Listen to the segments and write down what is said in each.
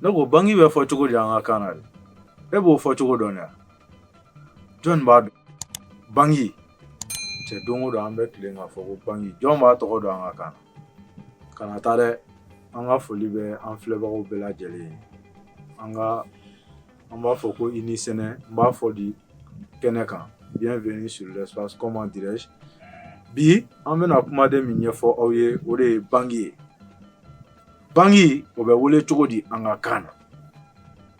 Ne ko bangi bɛ fɔ cogo di an ka kan na de e b'o fɔ cogo dɔn yan jɔn b'a dɔn bangi cɛ don o don an bɛ tilen k'a fɔ ko bangi jɔn b'a tɔgɔ dɔn an ka kan na kana taa dɛ an ka foli bɛ an filɛbagaw bɛɛ lajɛlen ye an b'a fɔ ko i ni sɛnɛ n b'a fɔ di kɛnɛ kan bienvenue sur l'espace comment dirais-je bi an bɛna kumaden min ɲɛfɔ aw ye o de ye bangi ye Bangi o bɛ wele cogo di an ka kan na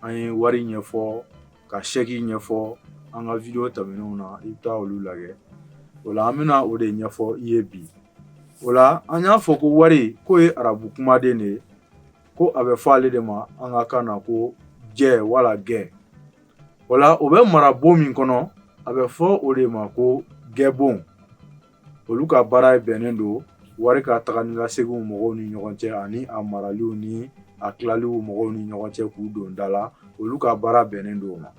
an ye wari ɲɛfɔ ka sɛki ɲɛfɔ an ka video tɛmɛnenw na i bɛ taa olu lajɛ o la an bɛna o de ɲɛfɔ i ye bi o la an y'a fɔ ko wari k'o ye arabu kumaden de ye ko a bɛ fɔ ale de ma an ka kan na ko jɛ wala gɛ o la o bɛ mara bon min kɔnɔ a bɛ fɔ o de ma ko gɛbon olu ka baara bɛnnen don wari ka taga ni ka seginw mɔgɔw ni ɲɔgɔn cɛ ani a maraliw ni a tilaliw mɔgɔw ni ɲɔgɔn cɛ k'u don da la olu ka baara bɛnnen don o ma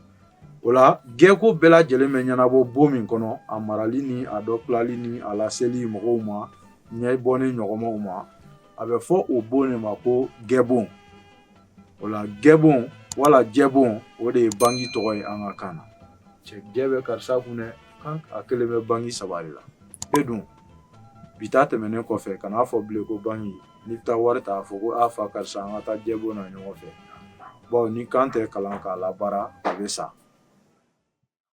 o la gɛko bɛɛ lajɛlen bɛ ɲɛnabɔ bon min kɔnɔ a marali ni a dɔ tilali ni a laseli mɔgɔw ma ɲɛbɔ ni ɲɔgɔnmaw ma a bɛ fɔ o bon de ma ko gɛbon o la gɛbon wala jɛbon o de ye bangi tɔgɔ ye an ka kan na cɛ jɛ bɛ karisa kun dɛ kan a kelen bɛ bangi saba de la e dun bi ta tɛmɛnen kɔfɛ kan'a fɔ bilen ko bangi n'i bɛ taa wari ta a fɔ ko a fa karisa an ka taa jɛbon na ɲɔgɔn fɛ bawo ni kan tɛ kalan k'a labaara a bɛ sa